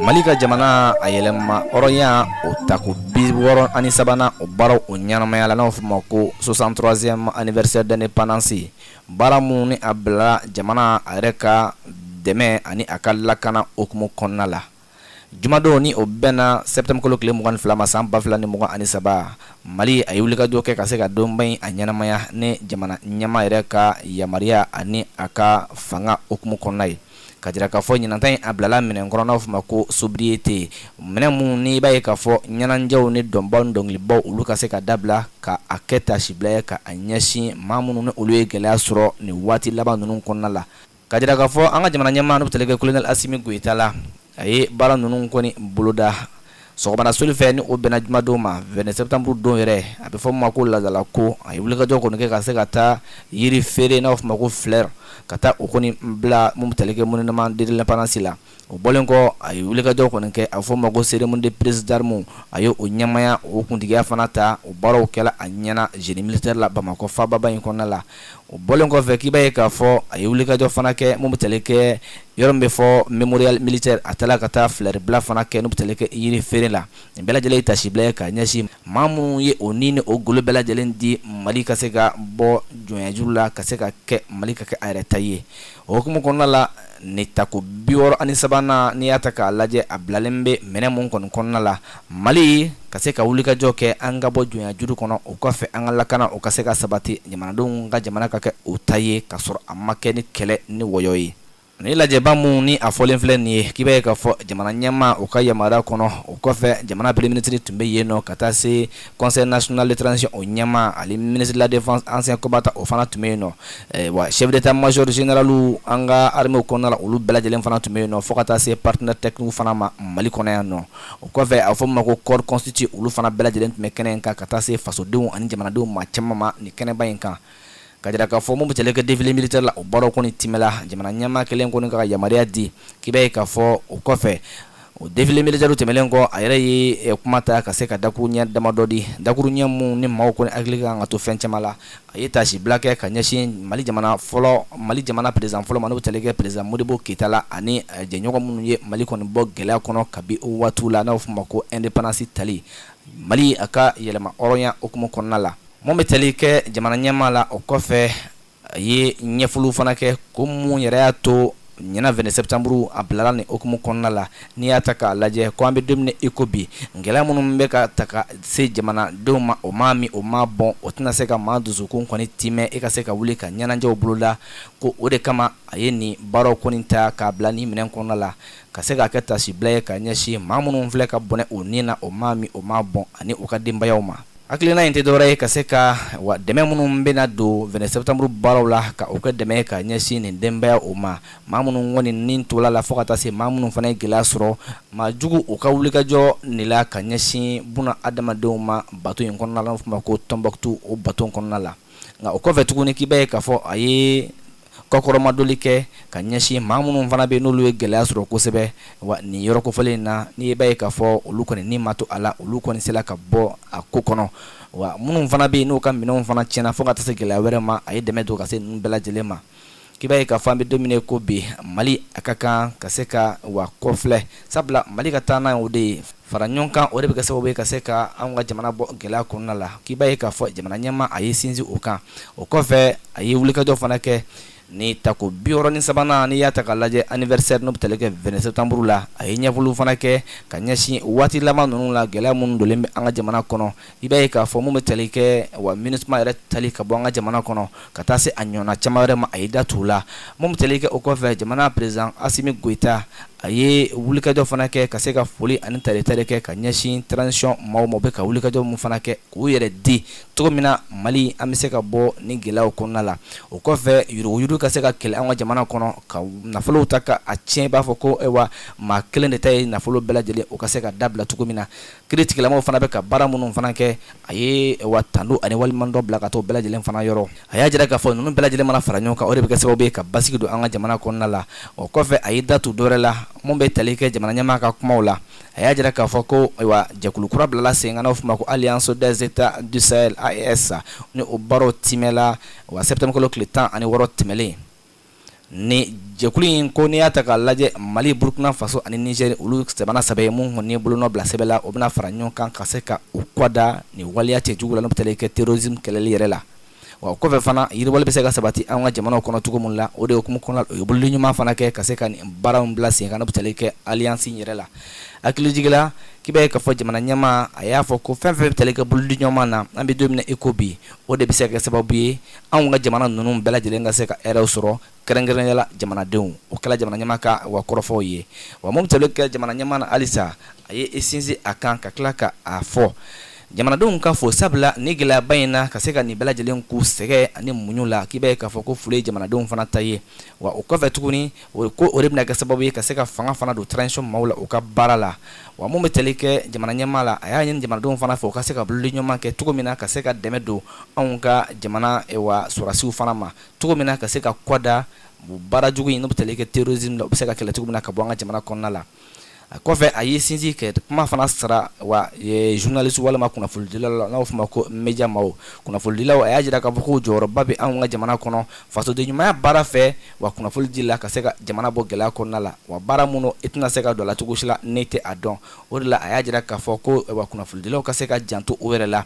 mali ka jamana a yɛlɛma hɔrɔnya o tako bi wɔɔrɔ ani sabanan o baaraw o ɲɛnamaya la n'o fɔ ma ko 63e anniversaire d'indépendance baara min ni a bilala jamana a yɛrɛ ka dɛmɛ ani a ka lakana hukumu kɔnɔna la Jumadon ni o bɛnna septembre kalo tile mugan ni fila ma san ba fila ni mugan ani saba mali a ye wulikajɔ kɛ ka se ka donba in a ɲɛnamaya ni jamana ɲɛmaa yɛrɛ ka yamaruya ani a ka fanga hukumu kɔnɔna ye ka jira k'a fɔ ɲinan ta in a bilala minɛn kɔnɔ n'aw fɔ ma ko sobriété minɛn min ni i b'a ye k'a fɔ ɲɛnajɛw ni dɔnbaw ni dɔnkilibaw olu ka se ka dabila ka a kɛ tasibila ye ka a ɲɛsin maa minnu ni olu ye gɛlɛya sɔrɔ nin waati laban ninnu kɔnɔna la Ka jira k'a fɔ an ka jamana ɲɛmaa n'o bɛ tali kɛ colonel Asimi Goyita la, a ye baara ninnu kɔni boloda sɔgɔmada soli fɛ ni o bɛnna jumadon ma 22 septembre don yɛrɛ, a bɛ fɔ min ma ko laadalako, a ye wulikajɔ kɔni kɛ ka se ka taa yiri feere n'a bɛ f'o ma ko fleur ka taa o kɔni bila min bɛ tali kɛ monument de l'indépendance la. o bɔlen kɔ a ye wulikajɔ kɔni kɛ a fɔ ma ko cérémonie de prise d'armes a y'o ɲɛmaaya o kuntigiya fana ta o baaraw kɛla a ɲɛna génie militaire la bamakɔ faababa in kɔnɔna la o bɔlen kɔfɛ k'i b'a ye k'a fɔ a ye wulikajɔ fana kɛ min bɛ tali kɛ yɔrɔ min bɛ fɔ mémorial militaire a taala ka taa fleur bila fana kɛ n'o bɛ tali kɛ yiri feere la nin bɛɛ lajɛlen ye tasibila ye ka ɲɛsin maa minnu ye o ni o golo bɛɛ lajɛlen di mali ka se ka bɔ jɔnyajuru la ka se ka kɛ mali ka kɛ a yɛrɛ ta ye O hukumu kɔnɔna la ni tako bi wɔɔrɔ ani sabanan n'i y'a ta k'a lajɛ a bilalen bɛ minɛn min kɔni kɔnɔna la mali ka se ka wulikajɔ kɛ an ka bɔ jɔnyajuru kɔnɔ o kɔfɛ an ka lakana o ka se ka sabati jamanadenw ka jamana ka kɛ u ta ye k'a sɔrɔ a ma kɛ ni kɛlɛ ni wɔyɔ ye ni lajɛba min ni a fɔlen filɛ nin ye k'i b'a ye k'a fɔ jamana ɲɛmaa o ka yamaruya kɔnɔ o kɔfɛ jamana premier ministre tun bɛ yen nɔ ka taa se conseil national de transition o ɲɛmaa ani ministre de la défense ancien combattant o fana tun bɛ yen nɔ wa chef d'état-major général an ka armée kɔnɔna la olu bɛɛ lajɛlen fana tun bɛ yen nɔ fo ka taa se partenaire technique fana ma mali kɔnɔ yan nɔ o kɔfɛ a fɔ ma ko corps constitué olu fana bɛɛ lajɛlen tun bɛ kɛnɛ in kan ka taa se fasodenw ani jamanadenw maa caman ma ni kɛnɛba in kan ka jira k'a fɔ mun bɛ tali kɛ défilé militaire la o baaraw kɔni tɛmɛla jamana ɲɛmaa kɛlen kɔni ka yamaruya di k'i b'a ye k'a fɔ o kɔfɛ o défilé militaire tɛmɛlen kɔ a yɛrɛ ye eh, kuma ta ka se ka dakuru ɲɛ damadɔ di dakuru ɲɛ minnu ni maaw kɔni hakili kan ka to fɛn caman la a ye tasibila kɛ ka ɲɛsin mali jamana fɔlɔ mali jamana président fɔlɔ ma n'o bɛ tali kɛ président modibo keyita la ani eh, jɛɲɔgɔn minnu ye mali kɔni bɔ gɛlɛya kɔnɔ kabi o waatiw la n'a bɛ f'o ma ko indépendance tali mali a ka yɛlɛma hɔrɔnya hukumu kɔnɔna la Mun bɛ tali kɛ jamana ɲɛmaa la o kɔfɛ a ye ɲɛfɔliw fana kɛ ko mun yɛrɛ y'a to ɲinan 22 septembre a bilala nin hukumu kɔnɔna la n'i y'a ta k'a lajɛ ko an bɛ don min na i ko bi gɛlɛya minnu bɛ ka ta ka se jamanadenw ma o maa min o maa bɔn o tɛna se ka maa dusukun kɔni tiimɛ i ka se ka wuli ka ɲɛnajɛw boloda ko o de kama a ye nin baaraw kɔni ta k'a bila nin minɛn kɔnɔna la ka se k'a kɛ taasibila ye ka ɲɛsin maa minnu filɛ ka bɔnɛ u ni na o maa min o maa bɔn ani u ka denbayaw ma. Hakilina in tɛ dɔwɛrɛ ye ka se ka wa dɛmɛ minnu bɛna don 22 septembre baaraw la ka o kɛ dɛmɛ ka ɲɛsin nin denbayaw ma maa minnu kɔni ni tola la fo ka taa se maa minnu fana ye gɛlɛya sɔrɔ maajuguw ka wulikajɔ nin la ka ɲɛsin bunaadamadenw ma bato in kɔnɔna la n'o fɔ ma ko Tɔnbukutu o bato kɔnɔna la nka o kɔfɛ tuguni k'i b'a ye k'a fɔ a ye kɔkɔrɔmadoli kɛ ka ɲɛsin maa minnu fana bɛ n'olu ye gɛlɛya sɔrɔ kosɛbɛ wa nin yɔrɔ kofɔlen in na n'i b'a ye k'a fɔ olu kɔni ni ma to a la olu kɔni sera ka bɔ a ko kɔnɔ wa minnu fana bɛ yen n'u ka minɛnw fana tiɲɛna fo ka taa se gɛlɛya wɛrɛ ma a ye dɛmɛ don ka se ninnu bɛɛ lajɛlen ma k'i b'a ye k'a fɔ an bɛ don min i ko bi mali a ka kan ka se ka wa kɔfilɛ sabula mali ka taaɲɛ o de ye fara ɲɔgɔn kan o de bɛ kɛ sababu ye ka se ka an ka jamana bɔ gɛlɛya kɔnɔna la k'i b'a ye k'a fɔ jamana ɲɛmaa a ye sinsin o kan o kɔfɛ a ye wulikajɔ fana kɛ ni tako biwɔɔrɔ ni sabanan n'i y'a ta k'a lajɛ anniversaire n'o bɛ tali kɛ 22 septembre la a ye ɲɛfɔliw fana kɛ ka ɲɛsin waati laban ninnu la gɛlɛya minnu donlen bɛ an ka jamana kɔnɔ i b'a ye k'a fɔ mun bɛ tali kɛ wa MINUSMA yɛrɛ tali ka bɔ an ka jamana kɔnɔ ka taa se a ɲɔgɔnna caman wɛrɛ ma a ye da t'u la mun bɛ tali kɛ o kɔfɛ jamana président Assimi Goïta a ye wulikajɔ fana kɛ ka se ka foli ani taretare kɛ ka ɲɛsin transition maaw ma u bɛ ka wulikajɔ min fana kɛ k'u yɛrɛ di cogo min na mali an bɛ se ka bɔ ni gɛlɛyaw kɔnɔna la o kɔfɛ yuruguyurugu ka se ka kɛlɛ an ka jamana kɔnɔ ka nafolow ta ka a tiɲɛ i b'a fɔ ko ayiwa maa kelen de ta ye nafolo bɛɛ lajɛlen o ka se ka dabila cogo min na kiiritigɛlamaw fana bɛ ka baara minnu fana kɛ a ye wa tando ani waleɲumandɔn bila ka t'u bɛɛ lajɛlen fana yɔrɔ a y'a jira k'a fɔ ninnu bɛɛ lajɛlen mana fara ɲɔgɔn kan o de bɛ kɛ sababu ye ka basigi don an ka jamana kɔnɔna la o kɔfɛ a ye datu dɔwɛrɛ la mun bɛ tali kɛ jamana ɲɛmaa ka kumaw la a y'a jira k'a fɔ ko ayiwa jɛkulu kura bilala sen kan n'o fɔ ma ko Alliance des États du Sahel AES ni o baaraw timɛla wa septembre kalo tile tan ani wɔɔrɔ tɛmɛnlen ni jɛkulu in ko n'i y'a ta k'a lajɛ mali burukina faso ani nizeri olu jamana saba ye minnu kɔni ye bolonɔ bila sɛbɛn la o bɛna fara ɲɔgɔn kan ka se ka u kɔda nin waleya cɛjugu la n'o bɛ tali kɛ terrorisme kɛlɛli yɛrɛ la wa o kɔfɛ fana yiriwali bɛ se ka sabati an ka jamanaw kɔnɔ cogo min la o de hukumu kɔnɔ u ye bolodi ɲuman fana kɛ ka se ka nin baara in bila sen kan n'o bɛ tali kɛ alliance in yɛrɛ la hakilijigila k'i b'a ye k'a fɔ jamana ɲɛmaa a y'a fɔ ko fɛn fɛn bɛ tali kɛ bolodi ɲuman na an bɛ don min na i ko bi o de bɛ se ka kɛ sababu ye anw ka jamana ninnu bɛɛ lajɛlen ka se ka hɛrɛw sɔrɔ kɛrɛnkɛrɛnnenya la jamanadenw o kɛla jamana ɲɛmaa ka wa kɔrɔfɔw ye wa mun bɛ tali kɛ jamana ɲɛmaa na halisa a ye i sinsin a kan ka tila ka a fɔ jamanadenw ka fo sabula ni gɛlɛyaba in na ka se ka nin bɛɛ lajɛlen k'u sɛgɛ ani muɲu la k'i b'a ye k'a fɔ ko foli ye jamanadenw fana ta ye wa o kɔfɛ tuguni o ko o de bɛna kɛ sababu ye ka se ka fanga fana don transition maaw la u ka baara la wa mun bɛ tali kɛ jamana ɲɛmaa la a y'a ɲini jamanadenw fana fɛ u ka se ka bolodiɲɔgɔnma kɛ cogo min na ka se ka dɛmɛ don anw ka jamana eh, wa sɔrɔdasiw fana ma cogo min na ka se ka kɔda baara jugu in n'o bɛ tali kɛ terrorisme la u bɛ se ka kɛlɛ cogo min na ka bɔ an ka jamana kɔnɔna la a kɔfɛ a ye sinsin kɛ kuma fana sara wa journalistes walima kunnafonidilaw la n'a bɛ fɔ a ma ko média maaw kunnafonidilaw a y'a jira k'a fɔ ko jɔyɔrɔba bɛ anw ka jamana kɔnɔ fasoden ɲumanya baara fɛ wa kunnafonidi la ka se ka jamana bɔ gɛlɛya kɔnɔna la wa baara minnu i tɛna se ka don a la cogo si la n'i tɛ a dɔn o de la a y'a jira k'a fɔ ko wa kunnafonidilaw ka se ka janto o yɛrɛ la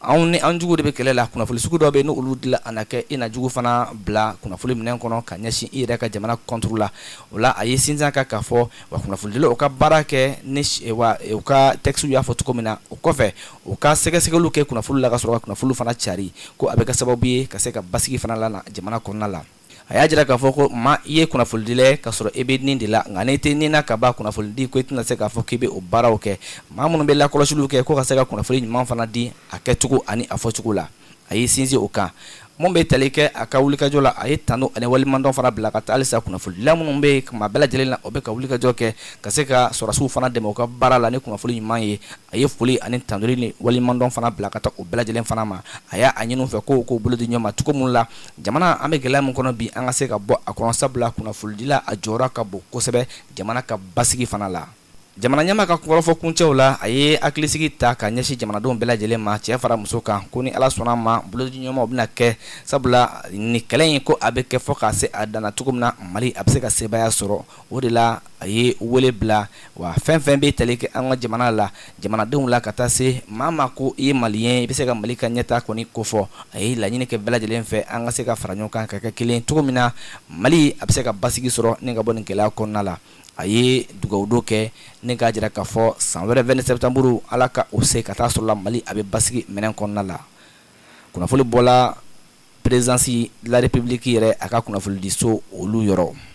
anw ni an jugu de bɛ kɛlɛ la kunnafoni sugu dɔ bɛ ni olu dila a na kɛ i na jugu fana bila kunnafoni minɛn kɔnɔ ka ɲɛsin i yɛrɛ ka jamana kɔnturu la o la a ye sinsin a kan k'a fɔ wa kunnafonidilaw ka baara kɛ ni wa u ka textes y'a fɔ cogo min na o kɔfɛ u ka sɛgɛsɛgɛliw kɛ kunnafoni la ka sɔrɔ ka kunnafoni fana cari ko a bɛ kɛ sababu ye ka se ka basigi fana lana jamana kɔnɔna la a y'a jira k'a fɔ ko maa i ye kunnafolidila ye ka sɔrɔ i bɛ nin de la nka n'i tɛ nin na ka ban kunnafolidi ko i tɛna se k'a fɔ k'i bɛ o baaraw kɛ maa minnu bɛ lakɔlɔsiliw kɛ ko ka se ka kunnafoli ɲuman fana di a kɛcogo ani a fɔcogo la a y'i sinsin o kan mun bɛ tali kɛ a ka wulikajɔ la a ye tanu ani waleɲumandɔn fana bila ka taa halisa kunnafolidila minnu bɛ yen kuma bɛɛ lajɛlen na o bɛ ka wulikajɔ kɛ ka se ka sɔrɔdasiw fana dɛmɛ u ka baara la ni kunnafoli ɲuman ye a ye foli ani tandoli ni waleɲumandɔn fana bila ka taa o bɛɛ lajɛlen fana ma a y'a ɲini u fɛ ko u k'u bolo di ɲɔgɔn ma cogo min na jamana an bɛ gɛlɛya min kɔnɔ bi an ka se ka bɔ a kɔnɔ sabula kunnafolidila a jɔyɔrɔ ka bon kosɛbɛ jamana ka basigi fana la jamana ɲɛmaa ka kɔrɔfɔ kuncɛw la a ye hakilisigi ta ka ɲɛsin jamanadenw bɛɛ lajɛlen ma cɛ fara muso kan ko ni ala sɔnna a ma bolodiɲɔgɔnmaw bɛna kɛ sabula nin kɛlɛ in ko a bɛ kɛ fo ka se a dan na cogo min na mali a bɛ se ka sebaaya sɔrɔ o de la a ye wele bila wa fɛn fɛn bɛ tali kɛ an ka jamana la jamanadenw la ka taa se maa ma ko i ye maliyɛn i bɛ se ka mali ka ɲɛtaa kɔni kofɔ a ye laɲini kɛ bɛɛ lajɛlen fɛ an ka se ka fara ɲɔgɔn kan ka kɛ kelen cogo min na mali a bɛ se ka basigi sɔrɔ ni ka bɔ nin gɛlɛya kɔnɔna la a ye dugawudon kɛ ni k'a jira k'a fɔ san wɛrɛ vingt septembre ala ka o se ka taa sɔrɔ la mali a bɛ basigi minɛn kɔnɔna la kunnafoni bɔla présidence de la république yɛrɛ a ka kunnafonidiso olu yɔrɔ